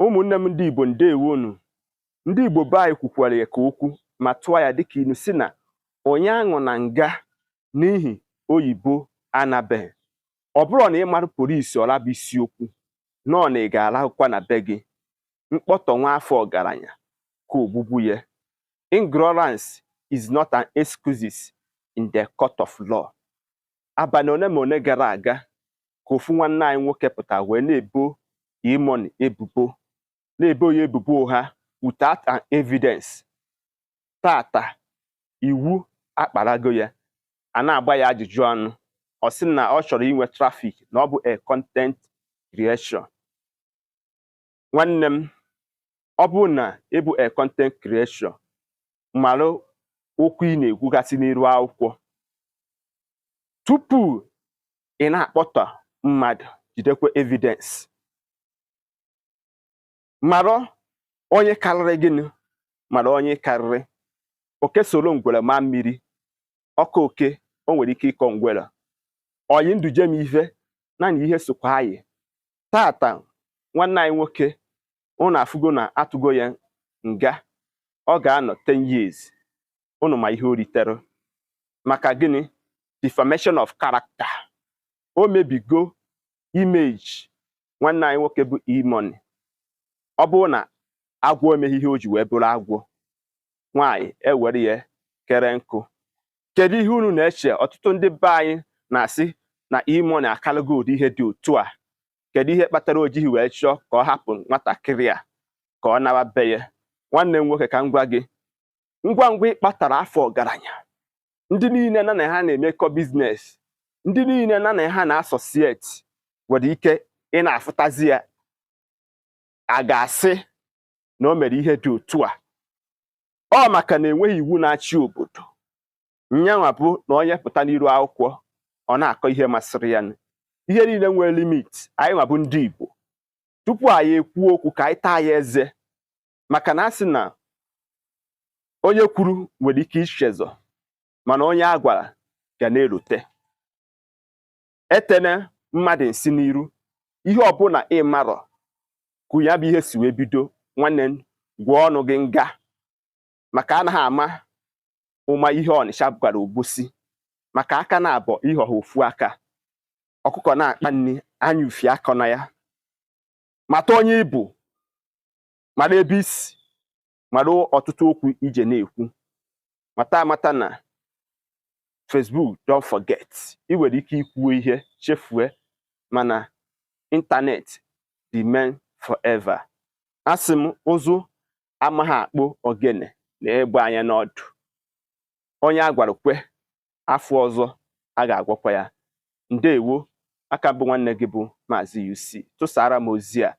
ụmụnne m ndị Igbo ndewonu ndị Igbo be anyị kwukwara ya ka okwu ma tụọ ya dịka ilu si na onye aṅụna nga n'ihi oyibo anabeghị ọ bụrọ na ị mara polisi ọla bụ isiokwu na ọ na ị ga-arahụkwa na be gị mkpọtọ nwa afọ ọgaranya ka ogbugbu ya ignorance is not an excuse in the court of law abalị ole ma ole gara aga ka ofu nwanne anyị nwoke pụta wee na-ebo E-Money ebubo na-ebo ya ebubo ụgha without an evidence tata iwu akparago ya a na-agba ya ajụjụ ọnụ ọ sị na ọ chọrọ inwe traffic na ọ bụ a content creation nwanne m ọ bụrụ na ị bụ a content creator mara okwu ị na-ekwugasị n'iru akwụkwọ tupu ị na-akpọtọ mmadụ jidekwa evidence mara onye karịrị gị mara onye ị karịrị oke soro ngwere maa mmiri ọ kọọ oke o nwere ike ịkọ ngwere oyi ndụ jem ife na na ihe sokwa anyị tata nwanne anyị nwoke ụnụ afụgo na a tụgo ya nga ọ ga-anọ 10 years ụnụ ma ihe o ritere maka gịnị defamation of character o mebigo image nwanne anyị nwoke bụ E-Money ọ bụrụ na agwọ emeghị ihe o ji wee bụrụ agwọ nwaanyị ewere ya kere nkụ kedu ihe unu na-eche ọtụtụ ndị be anyị na-asị na E-Money akalago ụdị ihe dị otu a kedu ihe kpatara o jighị wee chọọ ka ọ hapụ nwatakịrị a ka ọ nawa be ya nwanne m nwoke ka m gwa gị ngwa ngwa ị kpọtọrọ afọ ọgaranya ndị niile nya na ha na-emekọ business ndị niile nya na ha na-associate nwere ike ị na-afụtazi ya a ga-asị na o mere ihe dị otu a ọ maka na enweghị iwu na-achị obodo nyanwa bụ na onye pụta n'iru akwụkwọ ọ na-akọ ihe masịrị ya ihe niile nwere limit anyị nwa bụ ndị Igbo tupu anyị ekwuo okwu ka anyị taa ya eze maka na a sị na onye kwuru nwere ike ichezọ mana onye a gwara ga na-elote etene mmadụ nsị n'iru ihe ọbụla ị marọ ka ya bụ ihe si wee bido nwanne m gwụọ ọnụ gị nga maka anaghị ama ụma ihe Ọnịcha gwara Obosi maka aka naabọ ihe ọha ofu aka ọkụkọ na-akpa nri anya ufie akọna ya mata onye ị bụ mara ebe i si mara ọtụtụ okwu ije na-ekwu mata amata na Facebook don't forget ị nwere ike ikwuo ihe chefue mana ịntanetị remain forever asị m ụzụ amaghị akpụ ogene nee egbe anya n'ọdụ onye a gwara kwe afọ ọzọ a ga-agwakwa ya ndewo aka m bụ nwanne gị bụ Maazị UC tụsaara m ozi a